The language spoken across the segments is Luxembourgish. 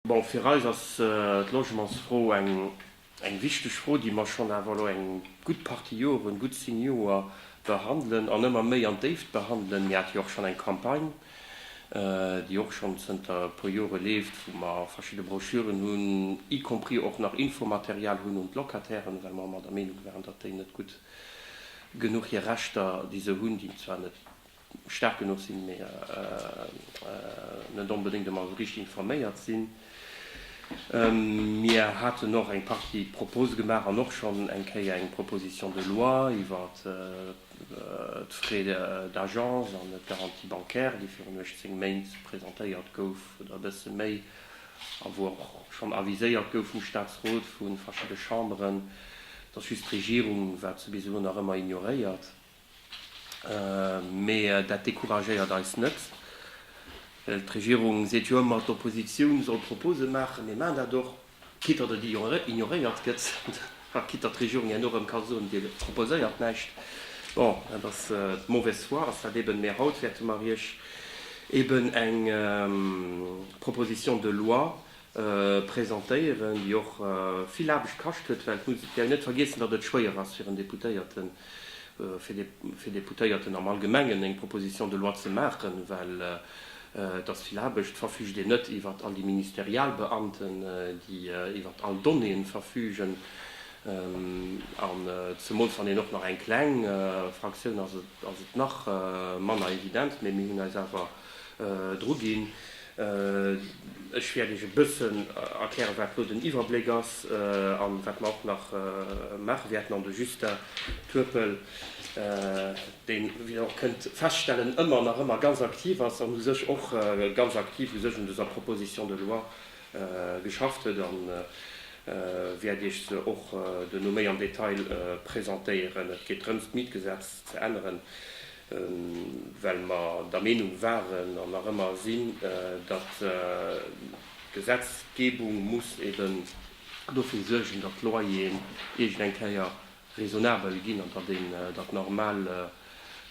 Bon, fir eis ass d'Logementsfro eng wichteg Fro, déi mer schonn awer elo eng gutt Partie Joren, gutt zéng Joer, behandelen an ëmmer méi an d'Déift behandelen. Mir hate jo och schonn eng Campagne, déi och schonn zënter e puer Jore leeft, wou mer verschidde Broschüren hunn, y compris och nach Infomaterial hunn un d'Locatairen, well mer ëmmer der Meenung waren, datt déi net gutt genuch hir Rechter, déi se hunn, déi zwar net staark genuch sinn, mee net onbedéngt ëmmer esou richteg informéiert sinn. Mir haten och eng Partie Propose gemaach an och schonn eng Kéier eng Proposition de loi iwwer d'Frais d'agence an d'Garantie bancaire, déi virun 18 Méint presentéiert gouf oder e bësse méi a wou och schonn aviséiert gouf vum Statsrot, vu verschidde Chamberen. Et ass just d'Regierung, wat se bis elo nach ëmmer ignoréiert. Mee dat decouragéiert eis net, well d'Regierung seet jo ëmmer, d'Oppositioun soll Propose maachen. Mir maachen dat och, quitte datt et ignoréiert gëtt a quitte datt d'Regierung herno erëm ka soen, Dir proposéiert näischt. Bon, dat ass d'mauvaise foi ass dat eben. Mee haut wäerte mer Iech eben eng Proposition de loi presentéieren, déi och vill Aarbecht kascht huet, well et muss een net vergiessen, datt et schwéier ass fir en Deputéierten, fir Deputéierten am Allgemengen eng Proposition de loi ze maachen, well et ass vill Aarbecht. Et verfügt een net iwwert all déi Ministerialbeamten, déi iwwert all Donnéeën verfügen, an zemools wann een och nach eng kleng Fraktioun ass, ass et nach manner evident, mee mir hunn eis awer, Druginn. Ech wäert Iech e bëssen erklären, wat do den Iwwerbléck ass a wat mer och nach maache wäerten. An de Justin Turpel, deen, wéi Der och kënnt feststellen, ëmmer nach ëmmer ganz aktiv ass an u sech och ganz aktiv u sech un dëser Proposition de loi geschafft huet, wäert Iech se och duerno méi am Detail presentéieren. Et geet drëms, d'Mietgesetz ze änneren. well mer der Meenung waren an nach ëmmer sinn, datt d'Gesetzgebung muss eben dofir suergen, datt d'Loyeren iergend eng Kéier raisonnabel ginn an datt een,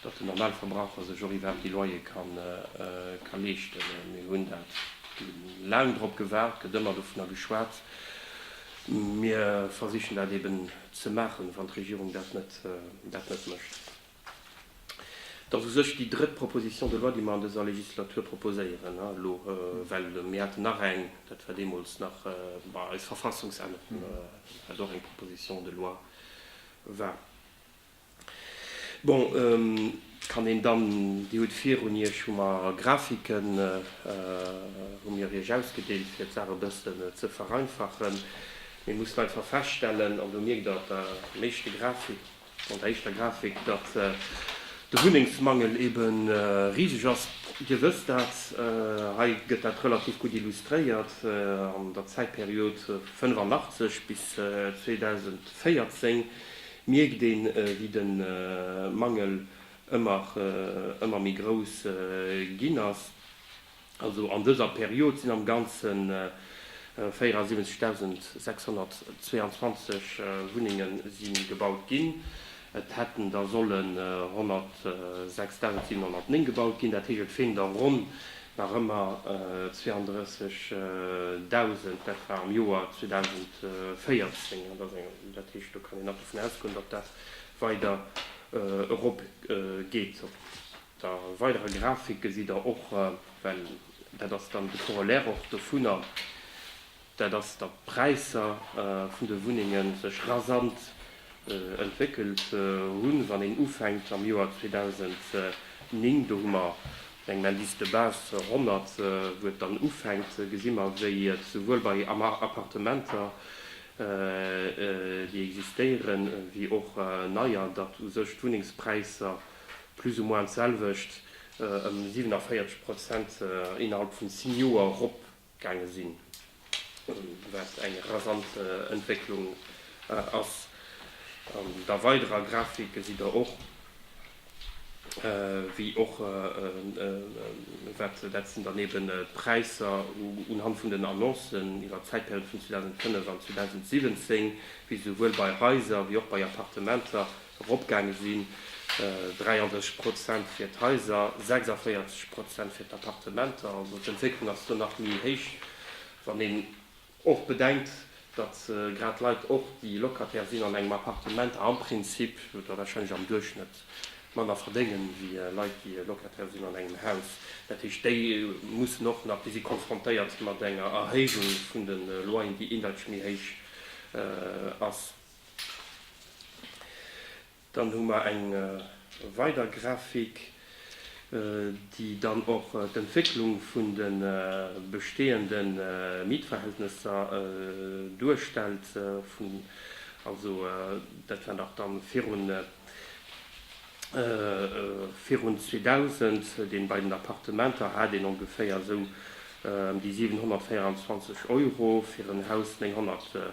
datt den normale Verbraucher sech och iwwerhaapt déi Loyere ka leeschten. Mir hunn da laang drop gewaart, gëtt ëmmer dovunner geschwat. Mir versichen dat eben ze maachen, wann d'Regierung dat net mécht. Et ass u sech déi drëtt Proposition de loi, déi mer an dëser Legislatur proposéieren elo, well mir haten nach eng, dat war deemools nach bei eis Verfassungsännerung, wat och eng Proposition de loi war. Bon, kann een dann, Dir hutt virun Iech, hu mer Grafiken, hu mir Iech ausgedeelt, fir d'Saach e bëssen ze vereinfachen. Mir mussen einfach feststellen, an do mierkt Der op der éischte Grafik, An der éischter Grafik, datt de Wunnengsmangel ebe riseg ass, Dir wësst dat, hei gëtt dat relativ gutt illustréiert, an der Zäitperiod 1985 bis 2014 mierkt ee wéi de Mangel ëmmer méi grouss ginn ass. Also an dëser Period sinn am Ganzen 74.622 Wunnenge si gebaut ginn. Et hätten der sollen 106.709 gebaut ginn. Dat heescht, et feelen der ronn nach ëmmer 32.000. Dat war am Joer 2014. An dat heescht, do kann een nach dovun ausgoen, datt dat weider erop geet. Da weidere Grafik gesitt der och, well dat ass dann de Corollaire och dovunner, dat ass, datt d'Präisser vun de Wunnenge sech rasant entwéckelt hunn, wann een ufänkt am Joer 2009, do hu mer mat engem Indice de base 100, wou et dann ufänkt, gesi mer, wéi et souwuel bei Appartementer, déi existéieren, wéi och neier, datt u sech d'Wunnengspräisser, Plus ou moins d'selwecht, ëm 47 Prozent innerhalb vun 10 Joer erop gaange sinn, wat eng rasant Entwécklung ass. An der weiderer Grafik gesitt Der och, wéi och wat dat sinn dann eben d'Präisser unhand vun den Annoncen iwwert d'Zäitperiode vun 2005 an 2017, wéi se souwuel bei Haiser wéi och bei Appartementer eropgaange sinn, 33 Prozent fir d'Haiser, 46 Prozent fir d'Appartementer. Also d'Entwécklung ass do nach méi héich, wann een och bedenkt, datt grad Leit och, déi Locataire sinn an engem Appartement, am Prinzip oder warscheinlech am Duerchschnëtt manner verdéngen, ewéi Leit, déi Locataire sinn an engem Haus. Dat heescht, déi mussen och nach, déi si konfrontéiert mat enger Erhéijung vun de Loyeren, déi indeitsch méi héich ass. Dann hu mer eng weider Grafik, déi dann och d'Entwécklung vun de bestehende Mietverhältnesser duerstellt, also dat war nach da virun 2000, deen bei den Appartementer hat een ongeféier esou ëm déi 724 Euro fir en Haus, 900.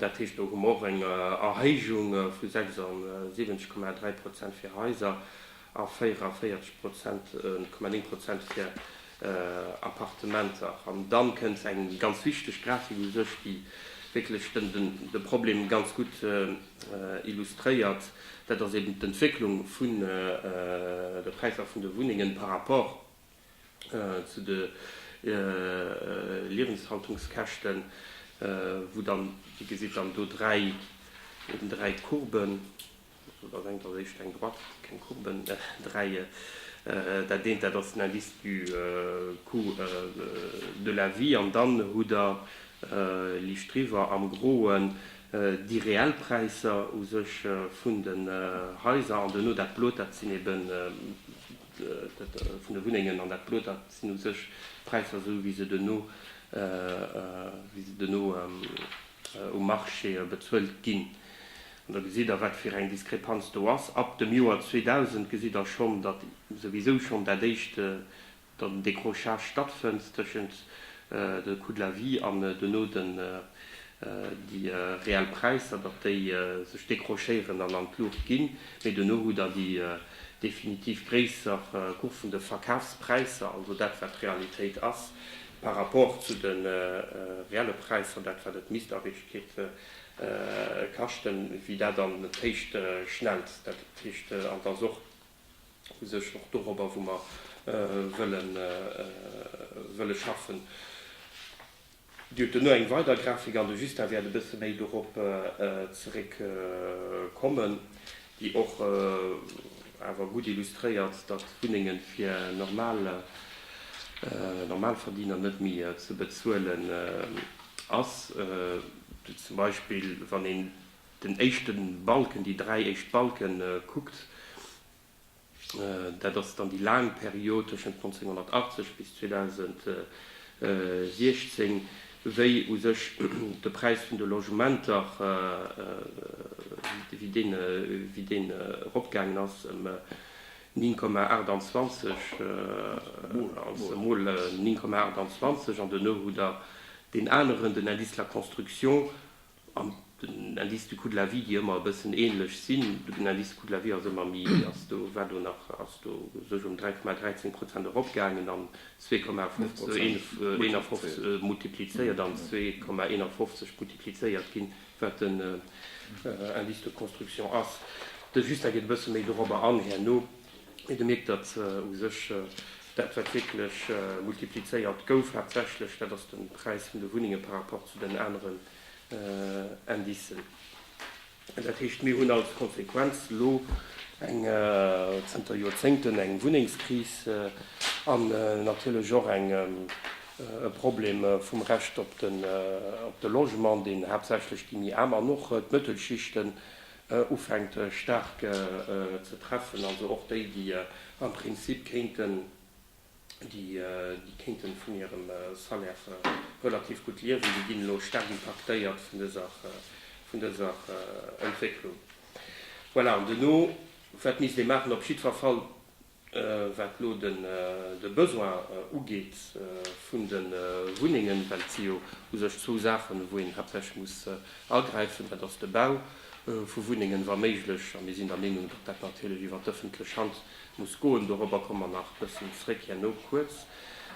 Dat heescht, do hu mer och eng Erhéijung vu 76,3 Prozent fir Haiser a 44,9 Prozent fir Appartementer. An da kënnt eng ganz wichteg Grafik u sech, déi wierklech de Problem ganz gutt illustréiert, dat ass eben d'Entwécklung vun de Präisser vun de Wunnengen par rapport Zu de Liewenshaltungskäschten, wou dann, Dir gesitt dann do dräi, eben dräi Courben, do ass eng, dat ass éischt eng Droite, keng Courben, dräi, dat eent, dat ass den Indice du coût de la vie an dann hutt Der liicht driwwer am Groen déi reell Präisser u sech vun den Haiser an duerno dat Blot, dat sinn eben vun de Wunnengen an dat Blot, dat sinn u sech d'Präisser esou wéi se duerno, wéi se duerno um Marché bezuelt ginn. An da gesitt Der, wat fir eng Diskrepanz do ass. Ab dem Joer 2000 gesitt Der schonn, datt souwisou schonn dat éischt, datt en Décrochage stattfënnt tëschent de Coût de la vie an duerno déi reell Präisser, datt déi sech décrochéieren an an d'Luucht ginn, mee duerno hutt Der déi definitiv gréisser Cours vun de Verkafspräisser, also dat wat d'Realitéit ass par rapport zu de reelle Präisser, dat wat et misst a Richtkeet kaschten, wéi dat an d'Héicht schnellt. Dat heescht, an d'ass och u sech och dorobber wou mer wëlle schaffen. Dir hutt duerno eng weider Grafik an de Justin wäert e bësse méi dorop zeréckkommen, déi och awer gutt illustréiert, datt d'Wunnenge fir normal Normalverdiener net méi ze bezuelen ass. Zum Beispill wann een den éischte Balken, déi dräi éischt Balke kuckt, Dat ass dann déi laang Period tëschent 1980 bis 2016, wéi u sech de Präis vun de Logementer, wéi deen eropgaangen ass ëm 9,28, also emol 9,28, an duerno hutt Der deen aneren, den Indice de la construction, an den Indice du coût de la vie, déi ëmmer e bëssen ähnlech sinn, den Indice du coût de la vie ass ëmmer méi, ass do, war do nach, ass do sech ëm 3,13 Prozent eropgaangen an 2,51 multiplizéiert an 2,51 multiplizéiert ginn, wat den Indice de construction ass. De Justin geet e bësse méi dorobber an herno. Mee de Mierkt datt u sech dat wat wierklech multiplizéiert gouf haaptsächlech dat ass de Präis vun de Wunnenge par rapport zu den aneren Indicen. Dat heescht mir hunn als Konsequenz elo eng, zënter Joerzéngten, eng Wunnengskris an natierlech och eng, e Problem vum Recht op de Logement deen haaptsächlech déi méi Aarm an och d'Mëttelschichten ufänkt staark ze treffen, also och déi, déi am Prinzip kéinten, déi kéinten vun hirem Salaire relativ gutt liewen, déi ginn elo staark impaktéiert vun dëser, vun dëser Entwécklung. Voilà, an duerno, wat misst ee maachen? Op jiddwer Fall Wat elo de Besoin ugeet vun de Wunnengen, well et si jo u sech zwou Saachen, wou een haaptsächlech muss agräifen, dat ass de Bau vu Wunnengen, wa méiglech, a mir sinn der Meenung, datt dat natierlech iwwert d'ëffentlech Hand muss goen, dorobber komme mer nach e bëssen zréck herno kuerz.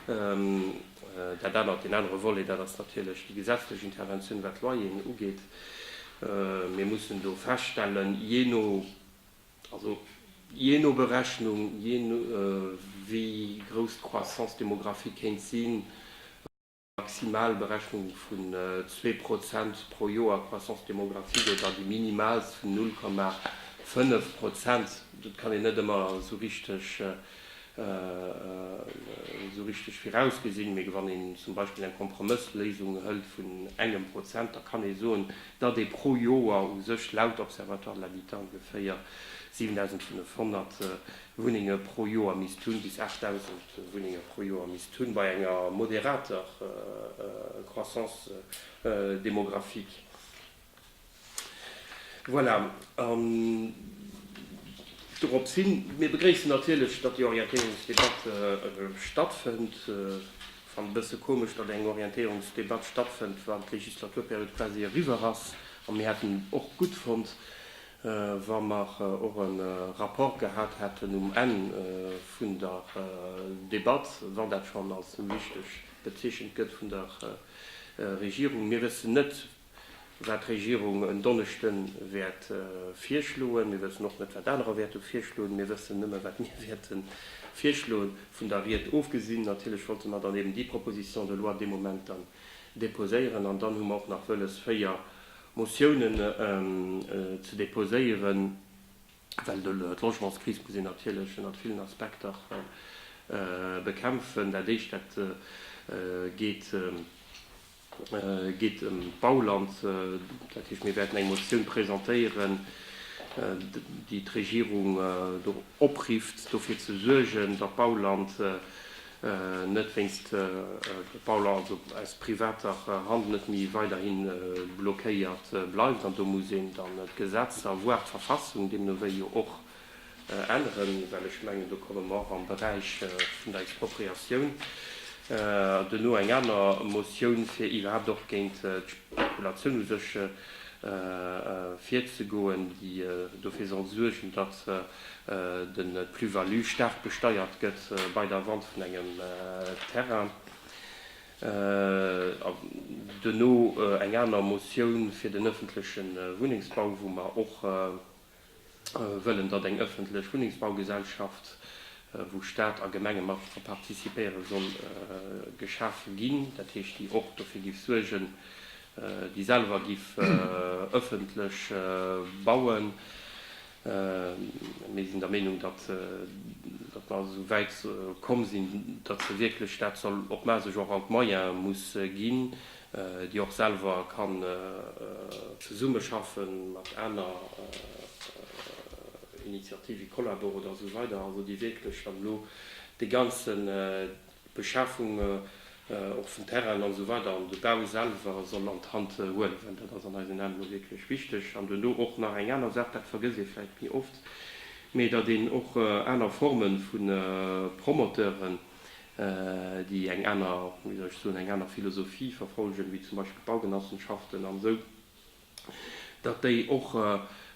Dat anert, deen anere Volet, dat ass natierlech déi gesetzlech Interventioun, wat d'Loyeren ugeet. Mir mussen do feststellen, jee no Also jee no Berechnung, jee no wéi grouss d'Croissance démographique kéint sinn, maximal Berechnung vun zwee Prozent pro Joer Croissance démographique oder déi minimaalst vun null Komma fënnef Prozent, dat kann een net ëmmer esou richteg esou richteg virausgesinn. Mee wann een zum Beispill eng Kompromëssléisung hëlt vun engem Prozent, da kann ee soen, datt ee pro Joer u sech laut Observatoire de l'habitat ongeféier 7.500 Wunnenge pro Joer misst hunn, bis 8.000 Wunnenge pro Joer misst hunn, bei enger moderater Croissance démographique. Voilà. An doropshin, mir begréissen natierlech, datt déi Orientéierungsdebatt stattfënnt. Fannen e bësse komesch, datt eng Orientéierungsdebatt stattfënnt, wann d'Legislaturperiod quasi eriwwer ass. A mir hätten och gutt fonnt, wa mer och e Rapport gehat hätten um Enn vun der Debatt, wann dat schonn als wichteg bezeechent gëtt vun der Regierung. Mir wëssen net, wat d'Regierung en Donneschden wäert virschloen. Mir wëssen och net, wat anerer wäerte virschloen. Mir wëssen nëmme, wat mir wäerte virschloen. Vun der Ried ofgesinn, natierlech wollte mer dann eben déi Proposition de loi dee Moment dann deposéieren. An dann hu mer och nach wëlles, véier Motiounen ze deposéieren, well d'Logementskris muss een natierlech ënnert villen Aspekter bekämpfen. Dat Éischt, dat geet. geet ëm d'Bauland, dat heescht, mir wäerten eng Motioun presentéieren, déi d'Regierung do oprifft, dofir ze suergen, datt d'Bauland net wéinst Bauland, also aus privater Hand, net méi weiderhi blockéiert bleift. An do muss een dann d'Gesetzer, voire d'Verfassung deemno wéi jo och änneren, well ech mengen, do komme mer och am Beräich vun der Expropriatioun duerno. Eng aner Motioun, fir iwwerhaapt och géint d'Spekulatioun u sech virzegoen, déi dofir soll suergen, datt de Plus-value staark besteiert gëtt bei der Vente vun engem Terrain. Duerno eng aner Motioun fir den ëffentleche Wunnengsbau, wou mer och wëllen, datt eng ëffentlech Wunnengsbaugesellschaft, wou Staat a Gemenge mat dra participéieren, soll geschafe ginn, dat heescht, déi och dofir géif suergen, déi selwer géif ëffentlech bauen. Mir sinn der Meenung, datt mer also esou wäit komm sinn, datt se wierklech dat soll op d'Mae sech och all d'Moyene muss ginn, déi och selwer kann zesummeschaffen mat aner Initiative, Collabor oder esou weider, also déi wierklech dann elo déi ganze Beschafung och vun Terrainen an esou weider an de Bau selwer soll an d'Hand huelen, well dat ass an eisen Aen elo wierklech wichteg. An duerno och nach eng aner Saach, dat vergësst ee vläicht méi oft, mee datt een och aner Forme vu Promoteuren, déi eng aner, wéi soll ech soen, eng aner Philosophie verfolgen, wéi zum Beispill d'Baugenossenschaften an esou, datt déi och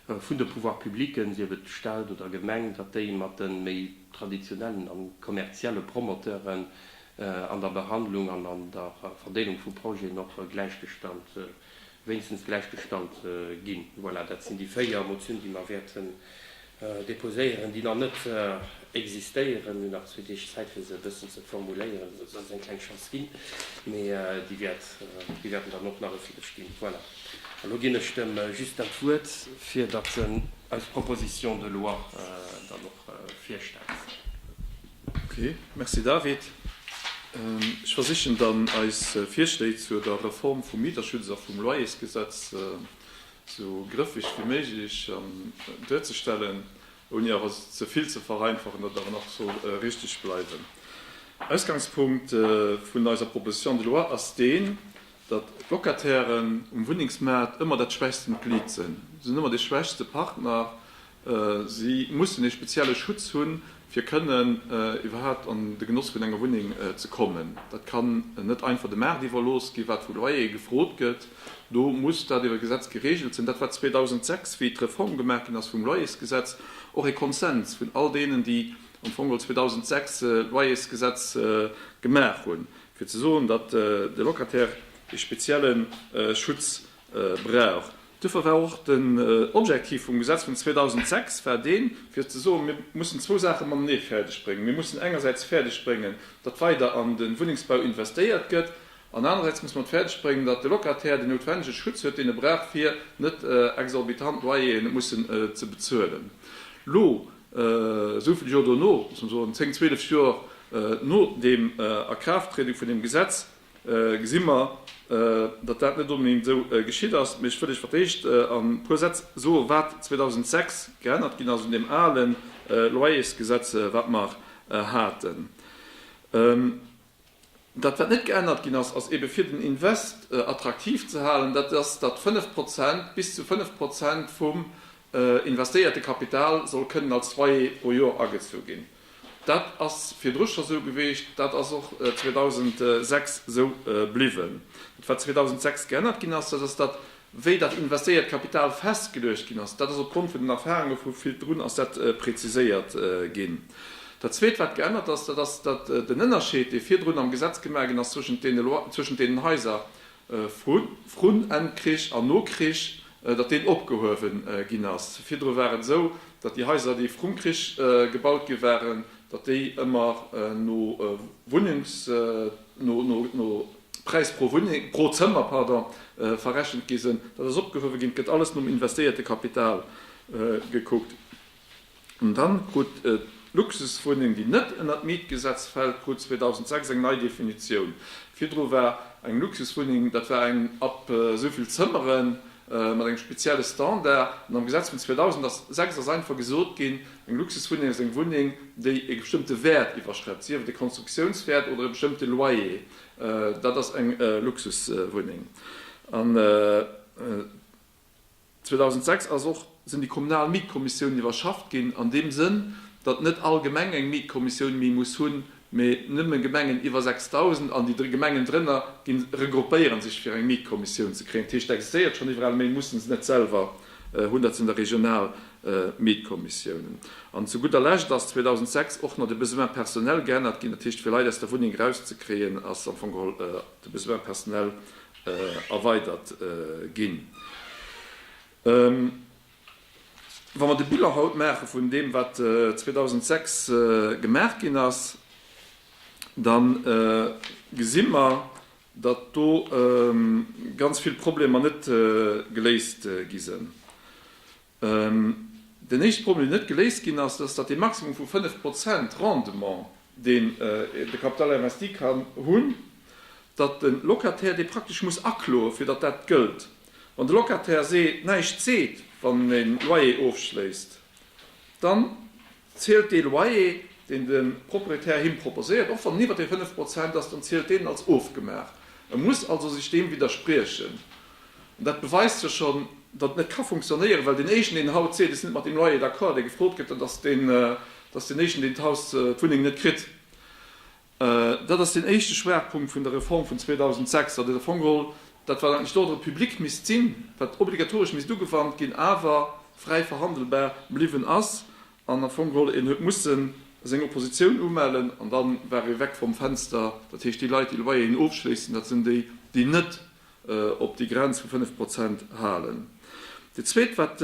vun de Pouvoirs publics, sief et Stat oder Gemeng, datt déi mat de méi traditionellen a kommerzielle Promoteuren an der Behandlung an an der Verdeelung vu Projeten och gläichgestallt wéinstens gläich gestallt ginn. Voilà, dat sinn déi véier Motiounen, déi mer wäerten déposéieren, déi nach net existéieren. Mir hunn nach zwee Deeg Zäit, fir se e bëssen ze formuléieren, esou dass et eng kleng Chance ginn, mee déi wäerten dann och nach e Fiddesch ginn. Voilà, an elo ginn ech dem Justin d'Wuert, fir datt en eis Proposition de loi dann och virstellt. Ok, merci David. Ech versichen dann, eis Virschléi zur der Reform vum Mieterschutz a vum Loyersgesetz esou grëffeg wéi méiglech duerzestellen, ouni awer se ze vill ze vereinfachen, datt et awer nach soll richteg bleiwen. Ausgangspunkt vun eiser Proposition de loi ass deen, datt d'Locatairen um Wunnengsmaart ëmmer dat schwächsten Glied sinn. Si sinn ëmmer dee schwächste Partner, Si mussen ee spezielle Schutz hunn, fir kënnen iwwerhaapt an de Genoss vun enger Wunneng ze kommen. Dat kann net einfach de Maart iwwerlooss ginn, wat vu Loyere gefrot gëtt. Do muss dat iwwer Gesetz gereegelt sinn. Dat war 2006, wéi d'Reform gemaach ginn ass vum Loyersgesetz, och e Konsens vun all deenen, déi am Fong geholl 2006 d'Loyersgesetz gemaach hunn, fir ze soen, datt de Locataire ee spezielle Schutz brauch. Duerfir war och den Objektiv vum Gesetz vun 2006 war deen, fir ze soen, mir mussen zwou Saache matenee fäerdeg bréngen, Mir mussen engersäits fäerdeg bréngen, datt weider an de Wunnengsbau investéiert gëtt, an anerersäits musse mer et fäerdeg bréngen, datt de Locataire den noutwendege Schutz huet, deen e brauch, fir net exorbitant Loyeren mussen ze bezuelen. Elo, esou vill Joer dono, muss mer soen, zéng, zwielef Joer no deem Akraafttriede vun deem Gesetz, Gesi mer, datt dat net onbedéngt esou geschitt ass, mee ech wëll lech fir d'éischt a puer Sätz soen, wat 2006 geännert ginn ass un deem ale Loyersgesetz, wat mer haten. Dat, wat net geännert ginn ass, ass eebe fir den Invest attraktiv ze halen, dat ass, datt 5 Prozent, bis zu 5 Prozent vum investéierte Kapital soll kënnen als Loyer pro Joer agezu ginn. Dat ass virdru scho sou gewiescht, dat ass och 2006 sou bliwwen. Dat wat 2006 geännert ginn ass, dat ass dat, wéi dat investéiert Kapital festgeluecht ginn ass. Dat ass opgrond vun den Erfahrunge vu Villdrun ass dat preziséiert ginn. Dat Zweet wat geännert ass, dat ass dat den Ënnerscheed, dee virdrun am Gesetz gemaach ginn ass zwëschent deene Loi, zwëschent deenen Haiser vrun Enn Krich an no Krich, datt deen opgehuewen ginn ass. Virdru war et esou, datt déi Haiser, déi vrum Krich gebaut gi waren, datt déi ëmmer no Wunnungs, no Präis pro Wunneng, pro Zëmmer, pardon, verrechent gi sinn. Dat ass opgehuewe ginn. Et gëtt alles nom investéierte Kapital gekuckt. An dann krut d'Luxuswunneng, déi net ënner d'Mietgesetz fält, krut 2006 eng nei Definitioun. Virdru war eng Luxuswunneng, dat war eng ab esou vill Zëmmere mat engem spezielle Standard. An am Gesetz vun 2006 ass einfach gesot ginn, eng Luxuswunneng ass eng Wunneng, déi e bestëmmte Wäert iwwerschrëtt, sief et e Konstruktiounswäert oder e bestëmmte Loyer, dat ass eng Luxuswunneng. 2006 ass och sinn déi kommunal Mietkommissiounen iwwerschafft ginn, an deem Sënn, datt net all Gemeng eng Mietkommissioun méi muss hunn, mä nëmme Gemengen iwwer 6.000, an déi Gemengen drënner gi regroupéiere sech, fir eng Mietkommissioun ze kréien. Dat heescht, et existéiert schonn iwwerall, mä musse se net selwer hunn. Dat sinn da regional Mietkommissiounen. An zu gudder Lescht ass 2006 och nach de Besoin personnel geännert ginn. Dat heescht, fir Leit aus der Wunneng erauszekréien, ass am Fong geholl de Besoin personnel erweidert ginn. Wa mer de Bilan haut maache vun deem, wat 2006 gemaach ginn ass, da gesi mer, datt do ganz vill Problemer net geléist gi sinn. Deen éischte Problem, deen net geléist ginn ass, ass, datt dee Maximum vu 5 Prozent Rendement, deen de Capital investi kann hunn, datt de Locataire dee praktesch muss akloe fir datt dat gëllt. Wann de Locataire näischt seet, wann en e Loyer ofschléisst, dann. Zielt dee Loyer, deen de Proprietär him proposéiert, och wann en iwwer déi 5 Prozent ass, dann zielt deen en als ofgemaach. E muss also sech deem widderspriechen. An dat beweist jo schonn, datt et net ka funktionéieren, well deen Éischen, deen haut seet, ech sinn net mat deem Loyer d'accord, dee gefrot gëtt, dann ass deen, datt deen Éischen, deen d'Haus, d'Wunneng net kritt. Dat ass deen éischte Schwaachpunkt vun der Reform vun 2006, datt et am Fong geholl, dat wat eigentlech d'Ordre public misst sinn, wat obligatoresch misst ugewannt ginn, awer fräi verhandelbar bliwwen ass an am Fong geholl een huet mussen seng Oppositioun umellen an da war ee weg vom Fenster. Dat heescht, déi Leit, déi Loyeren ofschléissen, dat sinn déi, déi net op déi Grenz vu 5 Prozent halen. Dat Zweet, wat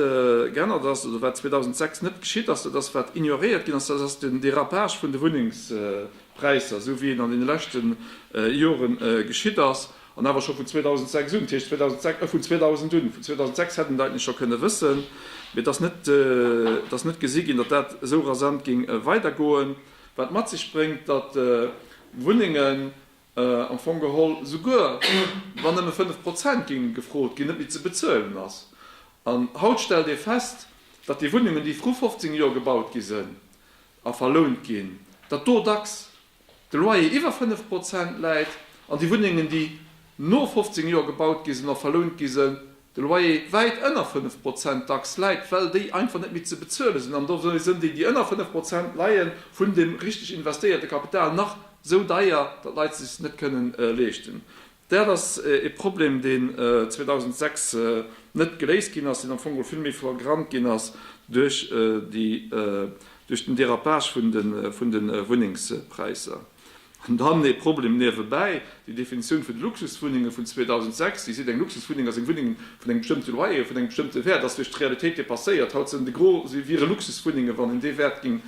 geännert ass oder wat 2006 net geschitt ass, dat ass, wat ignoréiert ginn ass, dat ass den Dérapage vun de Wunnengspräisser, esou wéi en an deene leschte Jore geschitt ass, an awer scho vun 2006 un. Dat heescht, vun 2000 un. Vun 2006 hätt een dat eigentlech scho kënne wëssen, mee et ass net, et ass net gesi ginn, datt dat esou rasant géing weidergoen, wat mat sech bréngt, datt Wunnengen am Fong geholl souguer wann nëmme 5 Prozent géinge gefrot ginn, net méi ze bezuelen ass. An haut stellt ee fest, datt déi Wunnungen, déi vru 15 Joer gebaut gi sinn a verlount ginn, datt do dacks de Loyer iwwer 5 Prozent läit an déi Wunnengen, déi no 15 Joer gebaut gi sinn a verlount gi sinn, de Loyer wäit ënner 5 Prozent dacks läit, well déi einfach net méi ze bezuele sinn. An dofir sinn déi, déi ënner 5 Prozent leien, vun deem richteg investéierte Kapital nach esou deier, datt d'Leit se sech net kënnen leeschten. Dat ass ee Problem, deen 2006 net geléist ginn ass, deen am Fong geholl vill méi flagrant ginn ass duerch den Dérapage vun de Wunnengspräisser. An dann ee Problem niewebäi, Déi Definitioun vun de Luxuswunnenge vun 2006, déi seet, eng Luxuswunneng ass eng Wunneng vun engem bestëmmte Loyer, vun engem bestëmmte Wäert, ass duerch d'Realitéit depasséiert. Haut sinn de Gros si wiere Luxuswunnengen, wann een dee Wäert géing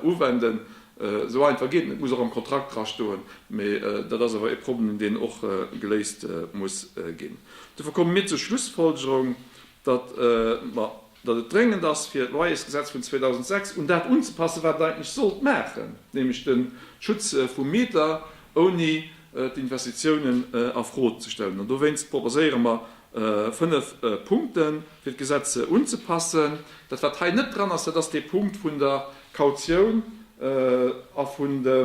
uwenden. Esou einfach geet en. Et muss och am Kontrakt drastoen. Mee dat ass awer e Problem, deen och geléist muss ginn. Dofir komme mir zur Schlussfolgerung, datt et dréngend ass fir d'Loyersgesetz vun 2006 un dat unzepassen, wat et eigentlech sollt maachen, nämlech de Schutz vum Mieter, ouni d'Investitiounen a Fro ze stellen. An dowéinst proposéiere mer fënnef Punkte fir d'Gesetz unzepassen. Dat wat hei net dran ass, dat ass dee Punkt vun der Kautioun a vun de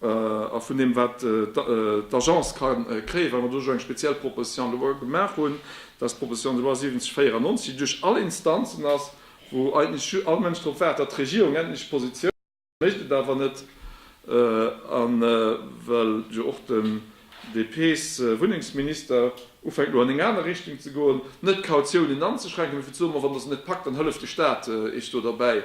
A vun deem wat d'Agence ka kréien, well mer do elo eng speziell Proposition de loi gemaach hunn, dat d'Proposition de loi 7094, déi duerch all Instanzen ass, wou eigentlech all Mënsch drop waart, datt d'Regierung endlech Position huet, mécht et awer net, well jo och de. DP-sWunnengsminister, ufänkt elo an eng aner Richtung ze goen, net d'Kautiounen anzeschränken, mee fir ze soen, ma wann Der se net packt, dann hëlleft de Staat Iech do derbäi,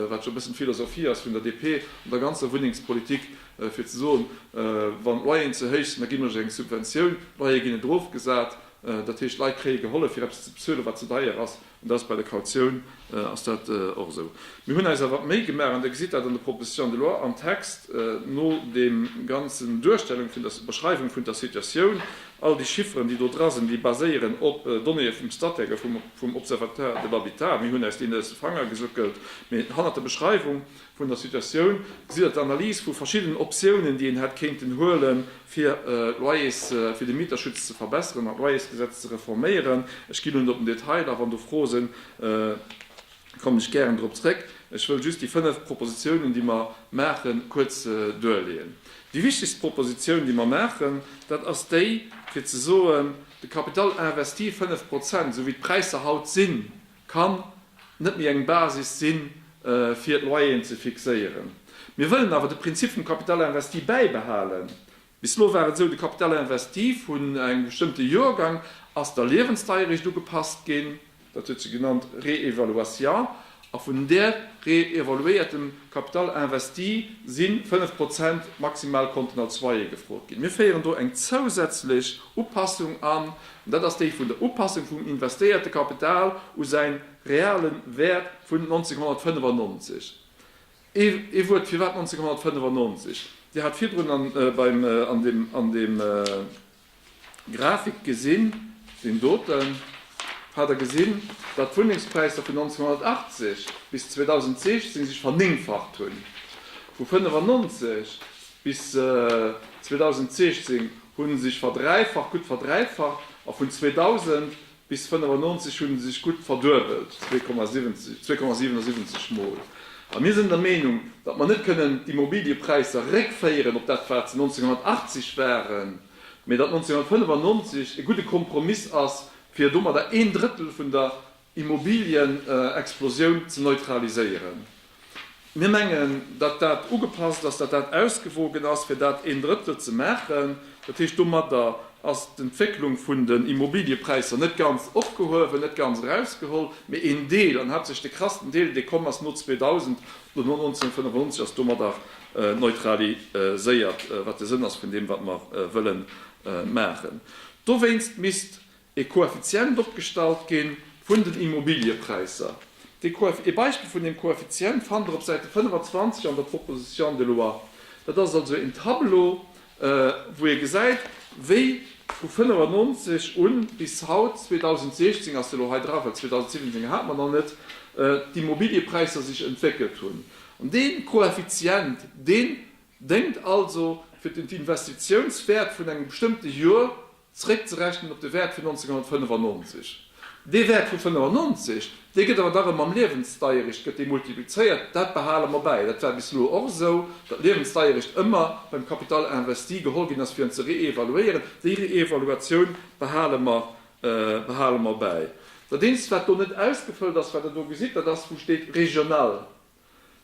wat jo e bëssen d'Philosophie ass vun der DP an der ganzer Wunnengspolitik, fir ze soen, wann d'Loyeren ze héich sinn, da ginn mer Iech eng Subventioun, d'Loyere ginn net erofgesat, dat heescht d'Leit kréie gehollef fir eppes ze bezuelen, wat ze deier ass. An dat ass bei der Kautioun ass dat och esou. Mir hunn eis awer d'Méi gemaach, an Dir gesitt dat an der Proposition de loi, am Text no der ganzer Duerstellung vun der Beschreiwung vun der Situatioun, all déi Chifferen, déi do dra sinn, déi baséieren op Donnéeë vum Statec a vum Observatoire de l'habitat, mir hunn eis deen aus de Fanger gesuckelt, mä hanner der Beschreiwung vun der Situatioun, gesitt der d'Analys vu verschiddenen Optiounen, déi een hätt kéinten huelen, fir d'Loyers, fir de Mieterschutz ze verbesseren an d'Loyersgesetz ze reforméieren. Ech ginn un op den Detail, a wann do Froe sinn, kommen ech gären drop zréck. Ech wëll just déi fënnef Propositionen, déi mer maachen, kuerz duerleeën. Déi wichtegst Proposition, déi mer maachen, dat ass déi, fir ze soen, de Capital investi, fënnef Prozent, esou wéi d'Präisser haut sinn, kann net méi eng Basis si fir d'Loyeren ze fixéieren. Mir wëllen awer de Prinzip vum Capital investi bäibehalen. Bis elo war et esou, de Capital investi vun engem bestëmmte Joergang ass der Liewensdeierecht ugepasst ginn, dat huet si genannt Réévaluation, a vun där réévaluéiertem Capital investi si 5 Prozent maximal konnten als Loyer gefrot ginn. Mir féieren do eng zousätzlech Upassung an, Dat ass déi vun der Upassung vum investéierte Kapital u säin reale Wäert vun 1995. Ee Wuert, firwat 1995? Dir hat virdrun an beim an deem an deem Grafik gesinn, deen doten, hat Der gesinn, datt d'Wunnengspräisser vun 1980 bis 2016 sech vernéngfacht hunn. Vu 95 bis 2016 hu sech verdräifacht, gutt verdräifacht, a vun 2000 bis 1995 hu se sech gutt verduebelt, 2,77 Mol. A mir sinn der Meenung, datt mer net kënnen d'Immobiliëpräisser réckféieren op dat, wat se 1980 waren, mee datt 1995 e gudde Kompromiss ass, fir domadder een Drëttel vun der Immobilienexplosioun ze neutraliséieren. Mir mengen, datt dat ugepasst ass, datt dat ausgewogen ass, fir dat een Drëttel ze maachen. Dat heescht, domadder ass d'Entwécklung vun den Immobiliepräisser net ganz opgehuewen, net ganz erausgeholl, mee een Deel, an haaptsächlech de krassen Deel, dee komm ass no 2000, no 1995, ass domadder neutraliséiert, wat de Sënn ass vun deem, wat mer wëlle maachen. Dowéinst misst e Koeffizient opgestallt gi vun den Immobiliëpräisser. E Beispill vun deem Koeffizient fannt Der op Säite 25 an der Proposition de loi. Dat ass also een Tableau, wou ee gesäit, wéi vu 1995 u bis haut, 2016 ass dee elo hei dra, well 2017 hate mer nach net, d'Immobiliëpräisser sech entwéckelt hunn. An dee Koeffizient, deen déngt also, fir den Investitiounswäert vun engem bestëmmte Jor Zréckzerechnen op de Wäert vun 1995. Dee Wäert vu 95, dee gëtt awer dach ëm mam Liewensdeierecht gëtt dee multiplizéiert. Dat behale mer bäi. Dat war bis elo och esou, datt Liewensdeierecht ëmmer beim Capital investi geholl ginn ass, fir en ze reevaluéieren. Déi Reevaluatioun behale mer, behale mer bäi. Dat eenzegt, wat do net ausgefëllt ass, wat Der do gesitt, dat ass, wou steet regional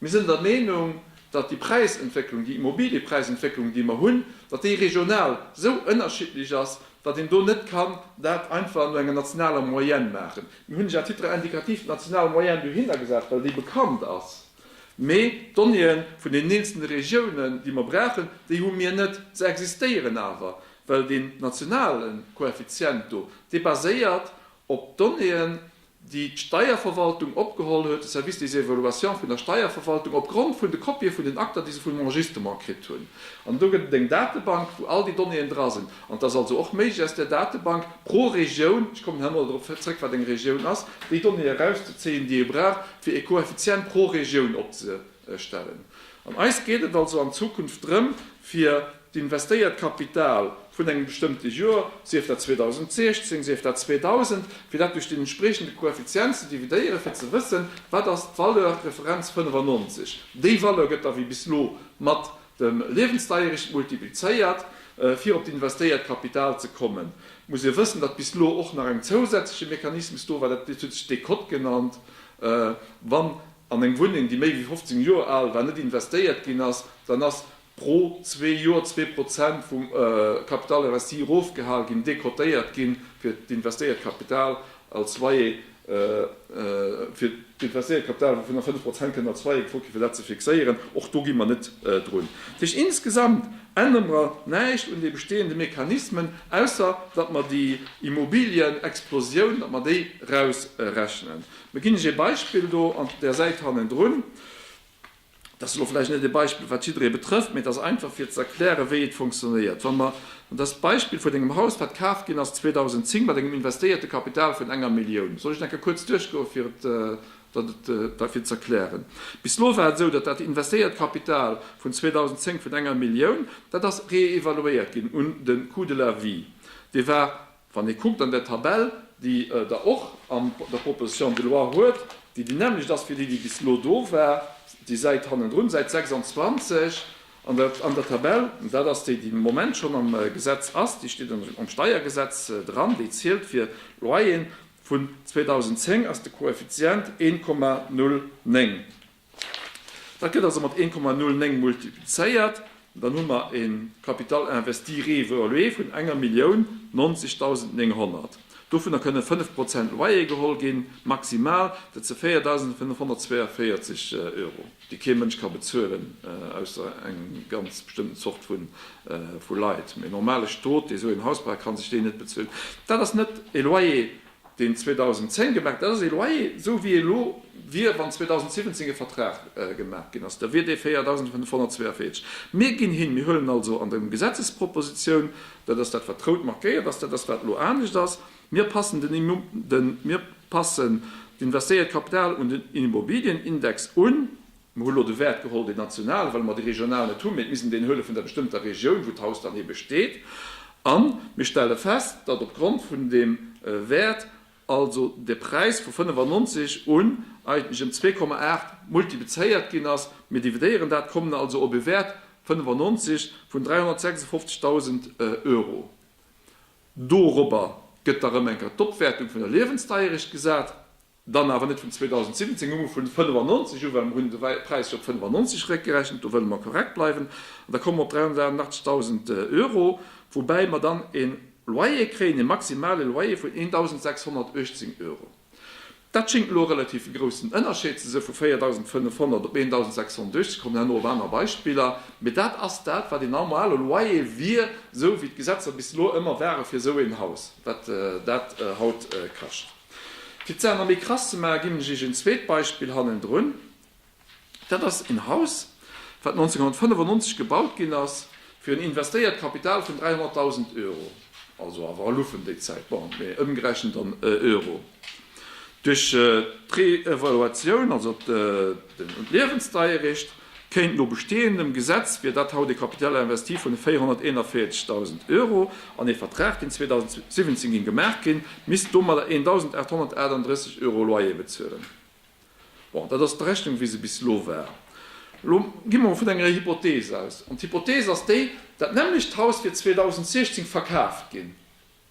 Mir sinn der Meenung, datt déi Präisentwécklung, déi Immobiliëpräisentwécklung, déi mer hunn, datt déi regional esou ënnerschiddlech ass, datt een do net kann dat einfach no enger nationaler Moyenne maachen. Mir hunn ech à titre indicatif d'national Moyenne dohinner gesat, well déi bekannt ass. Mee d'Donnéeë vun den eenzelne Regiounen, déi mer brauchen, déi hu mir net. Se existéieren awer, well deen nationale Koeffizient do, dee baséiert op Donnéeë déi d'Steierverwaltung opgeholl huet, de Service des évaluations vun der Steierverwaltung, opgrond vun de Kopië vun den Akter, déi se vum Enregistrement kritt hunn. An do gëtt et eng Datebank, wou all déi Donnéeën dra sinn. An et ass also och méiglech, aus där Datebank pro Regioun, ech kommen nach emol dorop zrëck, wat eng Regioun ass, déi Donnéeë erauszezéien, déi ee brauch, fir ee Koeffizient pro Regioun opzehuelen. stellen. An eis geet et also an Zukunft drëm, fir d'investéiert Kapital vun engem bestëmmte Joer, sief dat 2016, sief dat 2000, fir dat duerch den entspriechende Koeffizient ze dividéieren, fir ze wëssen, wat ass d'Valeur, d'Referenz 95. Déi Valeur gëtt da wéi bis elo mat dem Liewensdairicht multiplizéiert. Fir op d'investéiert Kapital ze kommen, muss ee wëssen, datt bis elo och nach eng zousätzleche Mechanismus do war, dat huet sech Décote genannt, wann, an eng Wunneng, déi méi wéi 15 Joer al war, net investéiert ginn ass, dann ass pro zwee Joer zwee Prozent vum Capital investi erofgehal ginn, decotéiert ginn, fir d'investéiert Kapital als Loyer, fir d'investéiert Kapital, wouvun der fënnf Prozent kënnen als Loyer gefrot ginn, fir dat ze fixéieren. Och do gi mer net drun. Dat heescht, insgesamt ännere mer näischt un de bestehende Mechanismen, ausser datt mer déi Immobilienexplosioun, datt mer déi erausrechnen. Mir ginn lech ee Beispill do an der Säit hannendrun. Dat ass elo vläicht net ee Beispill, wat jidderee betrëfft, mee et ass einfach, fir ze erklären, wéi et funktionéiert, wa mer, an dat ass d'Beispill vun engem Haus, wat kaaft ginn ass 2010 mat engem investéierte Kapital vun enger Millioun. Soll ech dat enke kuerz duerchgoen, fir et dat et da fir z'erklären? Bis elo war et esou, datt dat investéiert Kapital vun 2010 vun enger Millioun, dat ass reevaluéiert ginn un de Coût de la vie. Dee war Wann ee kuckt an där Tabell, déi Der och an der Proposition de loi huet, déi déi nämmlecht ass wéi déi, déi bis elo do war, déi Säit hannendrun, Säit 26, an der Tabell, dat ass déi, déi de Moment schonn am Gesetz ass, déi steet am Steiergesetz dran, déi zielt fir Loyeren vun 2010, ass de Koeffizient 1,09. Dat gëtt also mat 1,09 multiplizéiert. Dann hu mer e Capital investi réévalué vun enger Millioun 99900. Dovunner kënne 5 Prozent Loyer geholl ginn, maximal. Dat si 4542 Euro, déi kee Mënsch ka bezuelen, ausser eng ganz bestëmmten Zort vu Leit. Mee e normale Stot, dee sou een Haus brauch, ka sech déi net bezuelen. Dat ass net e Loyer, deen 2010 gemaach, dat ass ee Loyer, esou wéi e elo wier, wann 2017 e Vertrag gemaach ginn ass, da wier dee 4.542. Mir ginn hin, mir huelen also an der Gesetzespropositioun, dat ass dat, wat rout markéiert ass, dat ass, wat elo anescht ass, mir passen den, mir passen d'Investéiert Kapital un den Immobilienindex un, Mer hu lo de Wäert geholl, deen nationalen, well mer dee regionalen net hunn, mee et misst een deen huele vun der bestëmmter Regioun, wou d'Haus dann ebe steet. A mir stelle fest, datt opgrond vun deem Wäert also de Präis vu 95 un eigentlech ëm 2,8 multiplizéiert ginn ass. Mir dividéieren dat, kommen also op e Wäert, 95, vun 356.000 Euro. Dorobber gëtt da rëm eng Kéier d'Opwäertung vun der Liewensdeierecht gesat. Dann awer net vun 2017 un, mä vun 1995 u, well mer hunn de Präis jo op 1995 eréckgerechent, do wëlle mer korrekt bleiwen, an da komme mer op 383.000 Euro, woubäi mer dann e Loyer kréien, e maximale Loyer vun 1.618 Euro. Dat schéngt elo e relativ groussen Ënnerscheed ze sinn, vu 4.500 op 1.618, kommen herno op aner Beispiller, mä dat ass dat, wat een normale Loyer wier, esou wéi d'Gesetzer bis elo ëmmer ware fir esou een Haus, wat dat haut kascht. Fir d'Saach nach méi krass ze maachen, ginn ech Iech en zweet Beispill hannendrun. Dat ass en Haus, wat 1995 gebaut ginn ass, fir en investéiert Kapital vun 300.000 Euro, also awer a Lufen déi Zäit, bon, mee ëmgerechent an Euro. Duerch d'Reevaluatioun, also d'Liewensdeier eréischt, Kéint no bestehendem Gesetz wier dat haut e Capital investi vun 441.000 Euro an ee Vertrag, deen 2017 géing gemaach ginn, misst domadder 1.838 Euro Loyer bezuelen. Bon, dat ass d'Rechnung, wéi se bis elo war. Elo gi mer emol vun enger Hypothees aus. An d'Hypothees ass déi, dat nämmlecht Haus wier 2016 verkaaft ginn.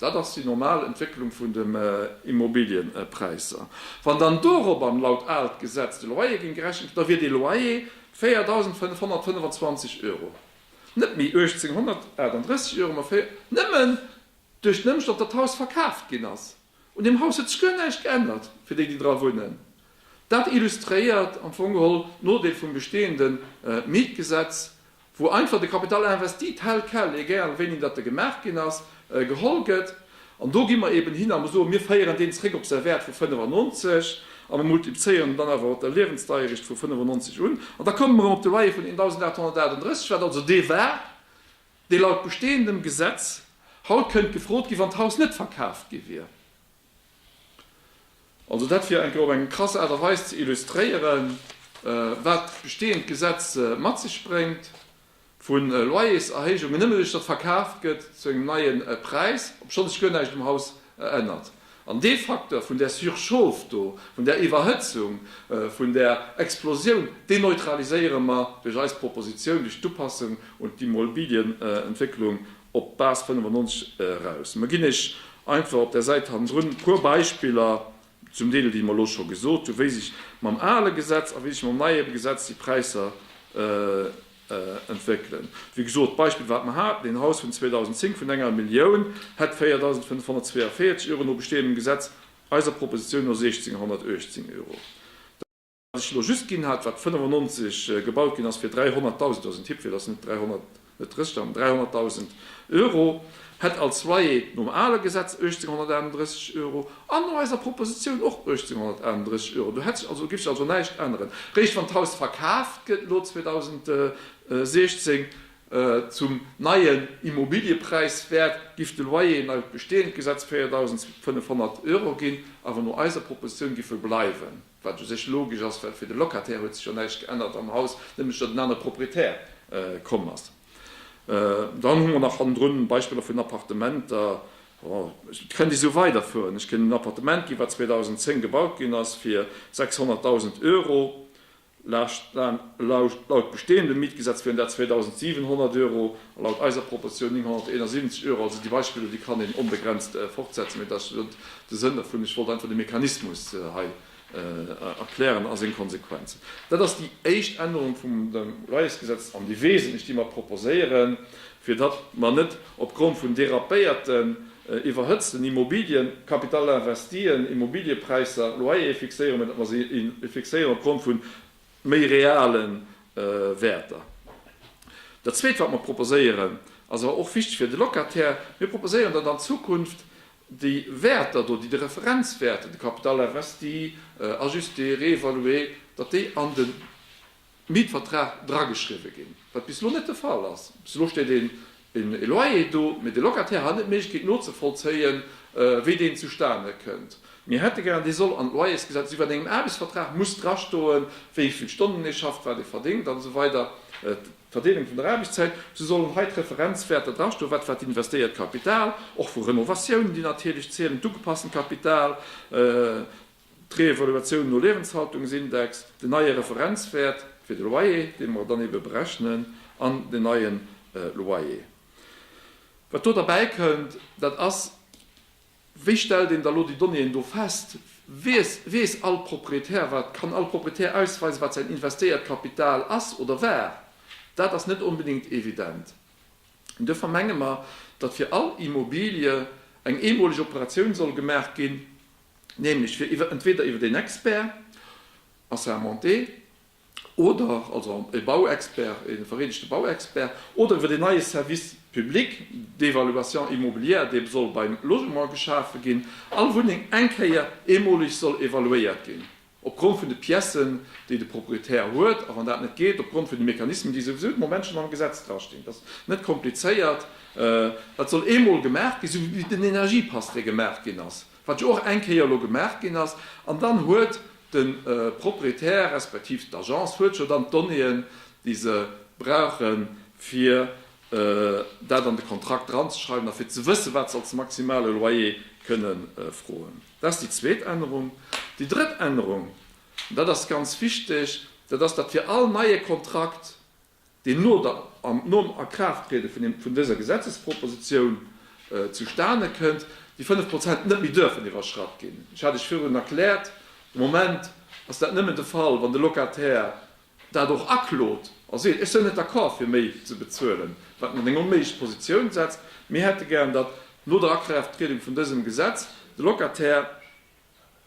Dat ass déi normal Entwécklung vun den Immobilienpräisser. Wann dann dorobber laut aalt Gesetz de Loyer géing gerechent ginn, da wier dee Loyer 4.525 Euro, net méi 1.838 Euro, ma 4, nëmmen duerch den Ëmstand, datt d'Haus verkaaft ginn ass. Un deem Haus huet sech guer näischt geännert fir déi, déi dra wunnen. Dat illustréiert am Fong geholl d'Nodeel vum bestehende Mietgesetz wou einfach de Capital investi tel quel, egal wéini datt e gemaach ginn ass, geholl gëtt. An do gi mer eeben hin a mer soen, mir féieren deen zréck op säi Wäert vu 95 a mer multiplzéieren en dann awer op der Liewensdeiericht vu 95 un. An da komme mer erëm op de Loyer vun 1.838, wat also dee war, dee laut bestehendem Gesetz haut kënnt gefrot ginn, wann d'Haus net verkaaft gi wier. Also dat fir eng Kéier op eng krass Aart a Weis ze illustréieren, wat d'besteeënd Gesetz mat sech bréngt, vu Loyerserhéijungen, nëmme duerch datt verkaaft gëtt zu engem neie Präis, obschonn sech guer näischt um Haus ännert. An dee Facteur vun där Surchauffe do, vun där Iwwerhëtzung, vun där Explosioun, deen neutraliséiere mer duerch eis Proposition, duerch d'Upassung un d'Immobilienentwécklung op d'Base 95 eraus. Mer ginn Iech einfach op där Säit hannendrun e puer Beispiller, zum Deel déi mer elo scho gesot hunn, wéi sech mam ale Gesetz a wéi sech mam neie Gesetz déi Präisser entwéckelen. Wéi gesot, d'Beispill wat mer haten, een Haus vun 2010 vun enger Millioun hätt 4.542 Euro no bestehendem Gesetz, eiser Propositioun no 1.618 Euro. Wat ech elo just ginn hat, wat 95 gebaut ginn ass fir 300.000, ass en Tipp, fir dass net 300, net 30, an 300.000 Euro, hätt als Loyer nom ale Gesetz 1.831 Euro an no eiser Propositioun och 1.831 Euro. Do hätt sech also, giff sech also näischt änneren. Réischt wann d'Haus verkaaft gëtt elo 2016 zum neien Immobiliëpräiswäert, giff de Loyer no besteeënd Gesetz 4.500 Euro ginn, awer no eiser Propositioun giff e bleiwen. Wat u sech logesch ass, well fir de Locataire huet sech jo näischt geännert am Haus, nämlech datt en anere Proprietär komm ass. Dann hu mer nach hannendrun Beispiller vun Appartementer. Ech kënnt esou weiderfueren. Ech kënnt een Appartement ginn, wat 2010 gebaut ginn ass fir 600.000 Euro. Laut bestehendem Mietgesetz wieren dat 2.700 Euro. Laut eiser Proposition 971 Euro, also déi Beispiller, déi kann een onbegrenzt fortsetzen, mee dat ass jo de Sënn dervun. Ech wollt einfach de Mechanismus hei erklären a seng Konsequenzen. Dat ass déi éischt Ännerung vum Loyersgesetz an déi wesentlech, déi mer proposéieren, fir datt mer net opgrond vun dérapéierten, iwwerhëtzten Immobilien, Capital investien, Immobiliëpräisser, Loyere fixéieren, mee datt mer se fixéieren opgrond vun méi reale Wäerter. Dat Zweet, wat mer proposéieren, ass awer och wichteg fir de Locataire, Mir proposéieren, datt an Zukunft déi Wäerter do, déi de Referenzwäerten, de Capital investi ajusté, réévalué, datt déi an de Mietvertrag drageschriwwen ginn, wat bis elo net de Fall ass. Bis elo steet ee En Loyer do, mee de Locataire hat net d'Méiglechkeet nozevollzéien, wéi deen zustane kënnt. Mir hätte gär, dee soll an d'Loyersgesetz iwwert engem Aarbechtsvertrag muss drastoen, wéi vill Stonnen ee schafft, wat ee verdéngt an esou weider, d'Verdeelung vun der Aarbechtszäit. Esou sollen hei d'Referenzwäerter drastoen, wat war d'investéiert Kapital, och vu Renovatiounen, déi natierlech zielen, d'ugepassten Kapital, d'Reevaluatioun no Liewenshaltungsindex, den neie Referenzwäert fir de Loyer, dee mer dann ebe berechnen, an den neie Loyer. Wat do derbäikënnt, dat ass, Wéi stellt een da elo déi Donnéeën do fest? Weess, weess all Proprietär wat, kann all Proprietär ausweisen, wat säin investéiert Kapital ass oder war? Dat ass net onbedéngt evident. An duerfir menge mer, datt fir all Immobilie eng eemoleg Operatioun soll gemaach ginn, nämlech fir iwwer entweder iwwer een Expert assermenté oder, also e Bauexpert, e vereedegte Bauexpert, oder iwwer deen neie Service public d'évaluation immobilière, dee soll beim Logement geschafe ginn, all Wunneng eng Kéier eemoleg soll evaluéiert ginn. opgrond vun de Piècen, déi de Propriétaire huet, a wann dat net geet, opgrond vun de Mechanismen, déi souwisou de Moment schonn am Gesetz drastinn. Dat ass net komplizéiert. Dat soll eemol gemaach ginn, esou wéi den Energiepass, dee gemaach ginn ass, wat jo och eng Kéier elo gemaach ginn ass. An dann huet de Propriétaire respektiv d'Agence huet jo dann d'Donnéeën, déi se brauche fir dat an de Kontrakt dranzeschreiwen a fir ze wëssen, wat se als maximale Loyer kënne froen. Dat ass déi zweet Ännerung. Déi drëtt Ännerung, an dat ass ganz wichteg, dat ass, datt fir all neie Kontrakt, deen no der, nom Akraafttriede vun dëser Gesetzespropositioun zustane kënnt, déi 5 Prozent net méi dürfen iwwerschratt ginn. Ech hat Iech virun erkläert, de Moment ass dat nëmmen de Fall, wann de Locataire dat och aklot a seet, ech sou net d'accord fir méi ze bezuelen, wat mir an eng onméiglech Positioun setzt. Mir hätte gären, datt no der Akraafttriedung vun dësem Gesetz de Locataire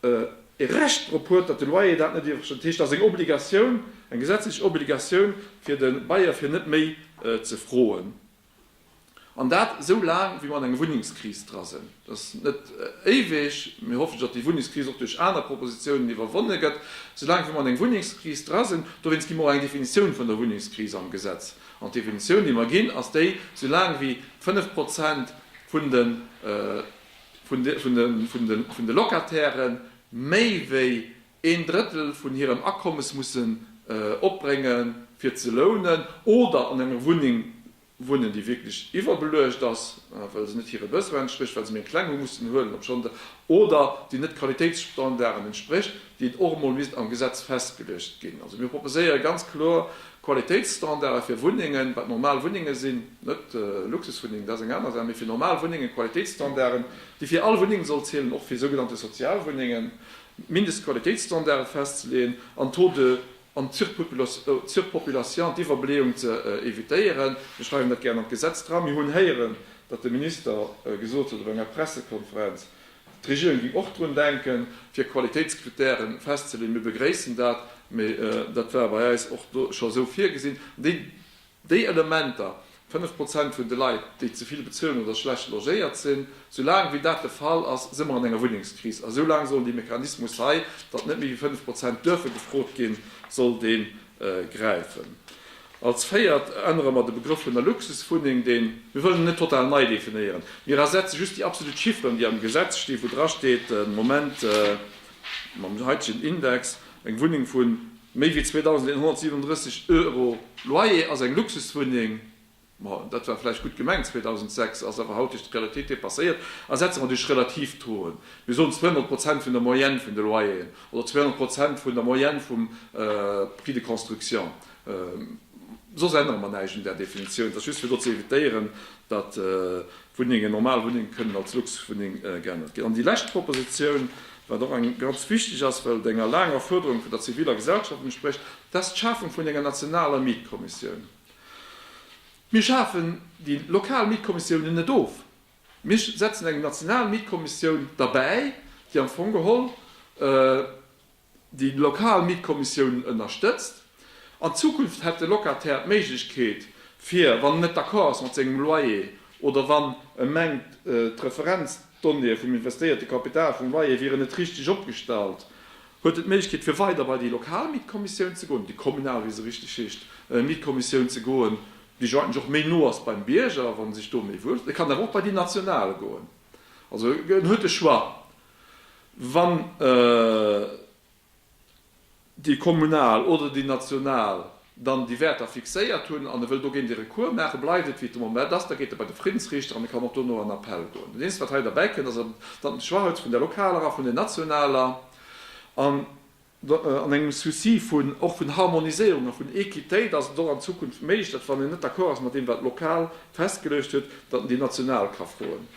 e Recht drop huet, datt de Loyer dat net iwwerschrëtt. Dat heescht, et ass eng Obligatioun, eng gesetzlech Obligatioun fir de Bailleur fir net méi ze froen. An dat esou laang, wéi mer an enger Wunnengskris dra sinn. Dat ass net éiweg. Mir hoffen, datt déi Wunnengskris och duerch aner Propositionen iwwerwonne gëtt. Esou laang, wéi mer an enger Wunnengskris dra sinn, dowéinst gi mer och eng Definitioun vun der Wunnengskris am Gesetz. An d'Definitioun, déi mer ginn, ass déi, esou laang wéi fënnf Prozent vun de, vun de, vun de Locataire méi wéi een Drëttel vun hirem Akommes mussen opbrénge fir ze lounen oder an enger Wunneng wunnen, déi wierklech iwwerbeluecht ass, well se net hire Besoine entsprécht, well se méi eng kleng hu mussen huelen, obschonn se, oder déi net Qualitéitsstandarden entsprécht, déi et och emol misst am Gesetz festgeluecht ginn. Also mir proposéiere ganz kloer Qualitéitsstandarde fir Wunnengen, wat normal Wunnenge sinn, net Luxuswunnengen, dat ass eng aner Saach, mee fir normal Wunnengen, Qualitéitsstandarden, déi fir all Wunneng soll zielen, och fir sougenannte Sozialwunnengen, Mindestqualitéitsstandarde festzeleeën an d'Taux de en surpopulation, d'Iwwerbeleeung, ze evitéieren. Mir schreiwen dat gären an d'Gesetz dra. Mir hunn héieren, datt de Minister gesot huet op enger Pressekonferenz, d'Regierung géing och drun denken, fir Qualitéitskritären festzeleeën. Mir begréissen dat, mee dat war bei eis och do scho esou virgesinn. Déi Elementer, 5 Prozent vun de Leit, déi ze vill bezuelen oder schlecht logéiert sinn, soulaang wéi dat de Fall ass, si mer an enger Wunnengskris. A soulaang soll dee Mechanismus hei, datt net méi wéi 5 Prozent duerfe gefrot ginn, soll dee gräifen. Als Véiert ännere mer de Begrëff vun der Luxuswunneng, deen, mir wëllen en net total nei definéieren, mir ersetze just déi absolut Chiffren, déi am Gesetz stinn, wou drasteet de Moment, mam heitegen Index, eng Wunneng vun, Méi wéi 2.137 Euro Loyer ass eng Luxuswunneng, ma dat war vläicht gutt gemengt 2006, ass awer haut duerch d'Realitéit depasséiert a setzt mer duerch relativ Touen, mir soen 200 Prozent vun der Moyenne vun de Loyeren oder 200 Prozent vun der Moyenne vum Prix de construction, soss ännere mer näischt un där Definitioun, et ass just fir do ze evitéieren, datt Wunnengen, normal Wunnengen, kënnen als Luxuswunneng geännert ginn. An déi lescht Propositioun, wat och eng ganz wichteg ass, well et enger laanger Fuerderung vun der ziviler Gesellschaft entsprécht, dat ass d'Schafung vun enger nationaler Mietkommissioun. Mir schafen déi lokal Mietkommissiounen net of. Mir setzen eng national Mietkommissioun derbäi, déi am Fong geholl, déi lokal Mietkommissiounen ënnerstëtzt. An Zukunft hätt de Locataire d'Méiglechkeet, fir, wann en net d'accord ass mat sengem Loyer oder wann e mengt, d'Referenzdonnéeë vum investéierte Kapital vum Loyer wieren net richteg opgestallt, huet en d'Méiglechkeet, fir weider bei déi lokal Mietkommissioun ze goen, déi kommunal, wéi se richteg heescht, Mietkommissioun ze goen, déi jo eigentlech och méi no ass beim Bierger, wann e sech do méi wuel fillt. E kann awer och bei déi national goen. Also en huet de Choix. Wann déi kommunal oder déi national dann déi Wäerter fixéiert hunn an e wëll dogéint ee Recours maachen, bleift et wéi et de Moment ass, da geet e bei de Friddensriichter an e kann och dono an Appell goen. Dat eenzegt wat hei derbäi kënnt, ass dann d'Schwachheits vun der lokaler a vun der nationaler. An engem Souci vun och vun Harmoniséierung a vun Équitéit ass et och an Zukunft méiglech, datt wann een net d'accord ass mat deem wat lokal festgeluecht huet, datt een déi national ka froen.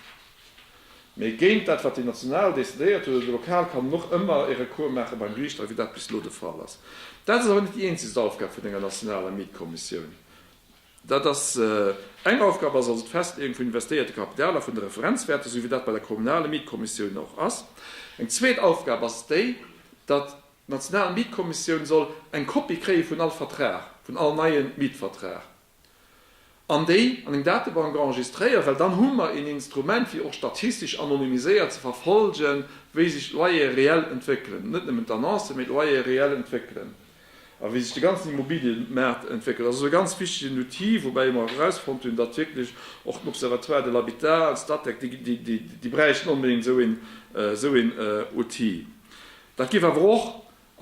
Mee géint dat wat déi national decidéiert huet oder déi lokal, kann een och ëmmer ee Recours maache beim Geriicht, a wéi dat bis elo de Fall ass. Dat ass awer net déi eenzegst Aufgab vun enger nationaler Mietkommissioun. Dat ass eng Aufgab, ass also d'Festleeung vun investéierte Kapital a vun de Referenzwäerter, esou wéi dat bei der kommunale Mietkommissioun och ass. Eng zweet Aufgab ass déi, datt d'national Mietkommissioun soll eng Kopie kréie vun all Vertrag, vun all neie Mietvertrag, an déi an eng Datebank enregistréieren, well dann hu mer een Instrument, fir och statistesch anonymiséiert ze verfolgen, wéi sech d'Loyere reell entwéckelen, net nëmmen d'Annoncen, mee d'Loyere reell entwéckelen. a wéi sech de ganzen Immobiliëmaart entwéckelt. Ass also e ganz wichtegen Outil, woubäi mer erausfonnt hunn, datt wierklech och den Observatoire de l'habitat an d'Statec, déi bräichten onbedéngt esou een Outil. Dat géif awer och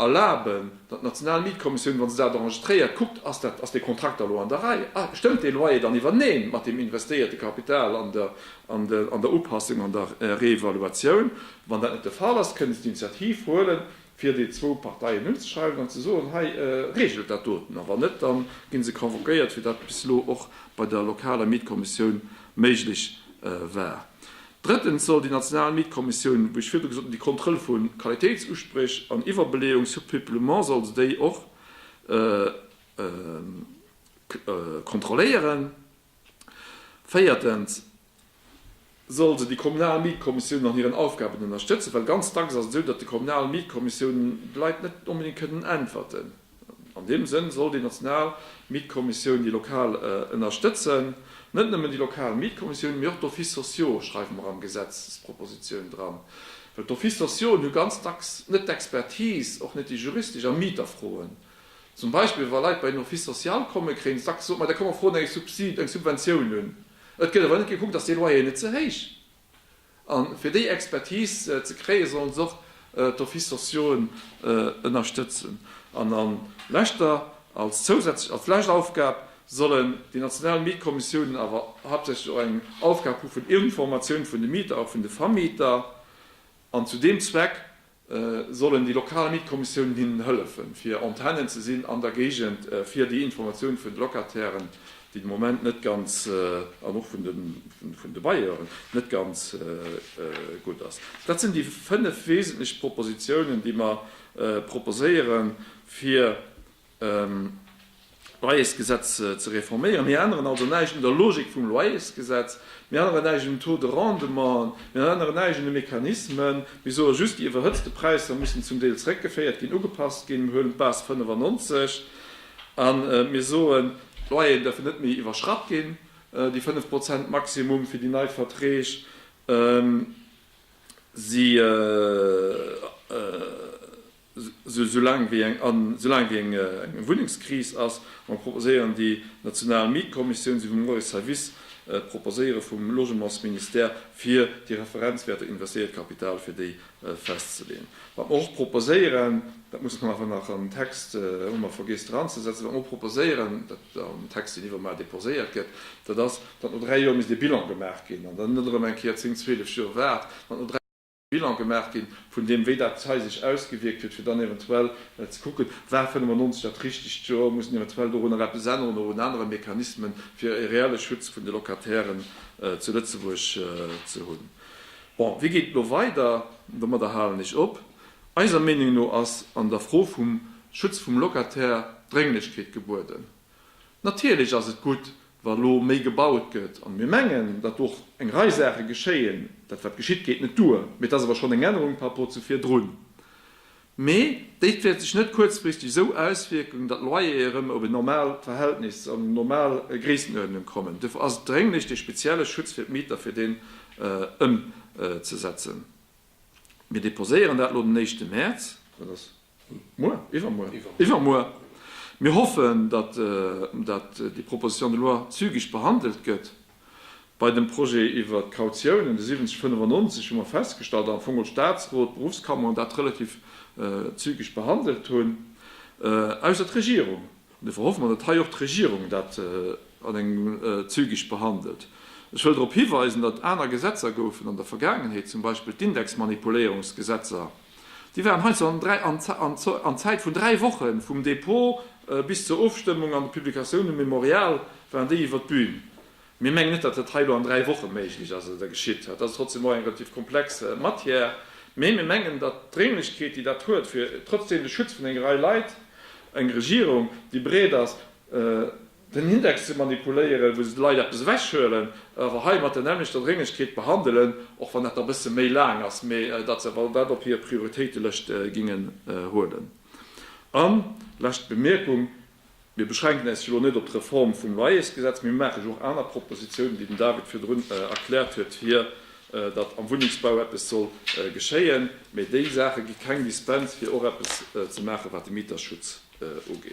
erlaben, datt d'national Mietkommissioun, wa se dat enregistréiert, kuckt, Ass dee Kontrakt da lo an der Rei? Stëmmt dee Loyer dann iwwereen mat deem investéierte Kapital an der Upassung, an der Reevaluatioun? Wann dat net de Fall ass, kënne se d'Initiativ huelen, fir déi zwou Parteien unzeschreiwen an ze soen, hei reegelt dat doten, a wann net, da gi se convoquéiert, wéi dat bis elo och bei der lokaler Mietkommissioun méiglech war. Drëttens soll déi national Mietkommissioun, wéi ech virdru gesot hunn, déi Kontroll vu Qualitéitsuspréch an Iwwerbeleeung, Surpeuplement, soll se déi och kontrolléieren. Véiertens soll se déi kommunal Mietkommissiounen an hiren Aufgaben ënnerstëtzen, well ganz dacks ass et esou, datt déi kommunal Mietkommissiounen de Leit net onbedéngt kënnen äntwerten. An deem Sënn soll déi national Mietkommissioun déi lokal ënnerstëtzen. Net nëmmen déi lokal Mietkommissioun, mee och d'Offices sociaux schreiwe mer an d'Gesetzespropositioun dran, well d'Offices sociaux hu ganz dacks net d'Expertise, och net déi juristesch, a Mieterfroen. Zum Beispill wa Leit bei en Office social kommen, kréien se dacks gesot, ma da komm mer froen eng Subsid, eng Subventioun un. Et gëtt awer net gekuckt, dass dee Loyer net ze héich an fir déi Expertise ze kréien, sollen se och d'Offices sociauen ënnerstëtzen. An a leschter, als zousätzlech, als lescht Aufgab sollen déi national Mietkommissiounen awer haaptsächlech och eng Aufgab hu vun Informatioun vun de Mieter a vun de Vermieter. An zu deem Zweck sollen déi lokal Mietkommissiounen hinnen hëllefen, fir Antennen ze sinn an der Géigend, fir déi Informatioun vun de Locatairen, déi de Moment net ganz, an och vun de Bailleuren net ganz gutt ass. Dat sinn déi fënnef wesentlech Propositionen, déi mer proposéieren, fir Loyersgesetz ze reforméieren. Mir änneren also näischt un der Logik vum Loyersgesetz. Mir änneren näischt un den Taux de rendement. Mir änneren näischt un de Mechanismen. Mir soe just, déi iwwerhëtzte Präisser mussen zum Deel zréckgeféiert ginn, ugepasst ginn. Mir huelen d'Base 95 a mir soen, d'Loyeren däerfen net méi iwwerschratt ginn, déi 5 Prozent Maximum fir déi nei Verträg. Si. Soulaang wéi eng Wunnengskris ass, mer proposéieren déi national Mietkommissioun, esou wéi mer och ee Service proposéiere vum Logementsministère, fir déi Referenzwäerter investéiert Kapital, fir déi festzeleeën. Wat mer och proposéieren, dat muss mer awer nach an den Text, hu mer vergiess dranzesetzen, wat mer och proposéieren, dat an den Text, deen iwwermar deposéiert gëtt, dat ass, datt no dräi Joer misst ee Bilan gemaach ginn an dann net erëm eng Kéier zéng, zwielef Joer waart, datt no dräi. Bilan gemaach ginn, vun deem, wéi dat hei sech ausgewierkt huet, fir dann eventuell ze kucken, War 95 dat richtegt Joer? Muss een eventuell doru nach eppes änneren oder un anere Mechanismen, fir e reelle Schutz vun de Locatairen zu Lëtzebuerg ze hunn? Bon, wéi geet et elo weider? Domadder halen ech op. Eiser Meenung no ass an der Fro vum Schutz vum Locataire Drénglechkeet gebueden. Natierlech ass et gutt, wa elo méi gebaut gëtt, an mir mengen, datt och eng Rei Saache geschéien. Dat wat geschitt geet net duer, mee et ass awer schonn eng Ännerung par rapport zu virdrun. Mee déi wäert sech net kuerzfristeg esou auswierken, datt d'Loyere erëm op en normaalt Verhältnis, an eng normal Gréissenuerdnung kommen. Dofir ass et drénglech, dee spezielle Schutz fir d'Mieter, fir deen ëmzesetzen. Mir deposéieren dat elo den éischte Mäerz. Muer? Iwwermuer? Iwwermuer. Mir hoffen, datt déi Proposition de loi zügig behandelt gëtt. Bei dem Projet iwwert d'Kautiounen, de 7095, hu mer festgestallt, datt am Fong och Statsrot, d'Berufskammer dat relativ zügig behandelt hunn, ausser d'Regierung. Dofir hoffe mer, datt hei och d'Regierung dat an engem zügig behandelt. Ech wëll drop hiweisen, datt aner Gesetzer goufen an der Vergaangenheet, zum Beispill d'Indexmanipuléierungsgesetzer, déi waren heiansdo an Zäit vun dräi Woche vum Dépôt bis zur Ofstëmmung an der Publication, dem Mémorial, waren déi iwwer d'Bühn. Mir mengen net, datt dat hei elo an dräi Woche méiglech ass oder geschitt. Dat ass trotzdeem och eng relativ komplex Matière. Mee mir mengen, datt d'Drénglechkeet, déi dat huet, fir trotzdeem de Schutz vun enger Rei Leit, eng Regierung, déi bereet ass, den Index ze manipuléieren, wou se de Leit eppes ewechhuelen, awer hei mat der nämmlechter Drénglechkeet behandelen, och wann dat da e bësse méi laang ass, mee datt se awer dat op hir Prioritéitelëscht gingen huelen. An, lescht Bemierkung, Mir beschränken äis jo elo net op d'Reform vum Loyersgesetz, mee mir maachen jo och aner Propositionen, déi den David virdrun erkläert huet hir, datt am Wunnengsbau eppes soll geschéien. Mee déi Saache gi keng Dispens, fir och eppes ze maachen, wat de Mieterschutz ugeet.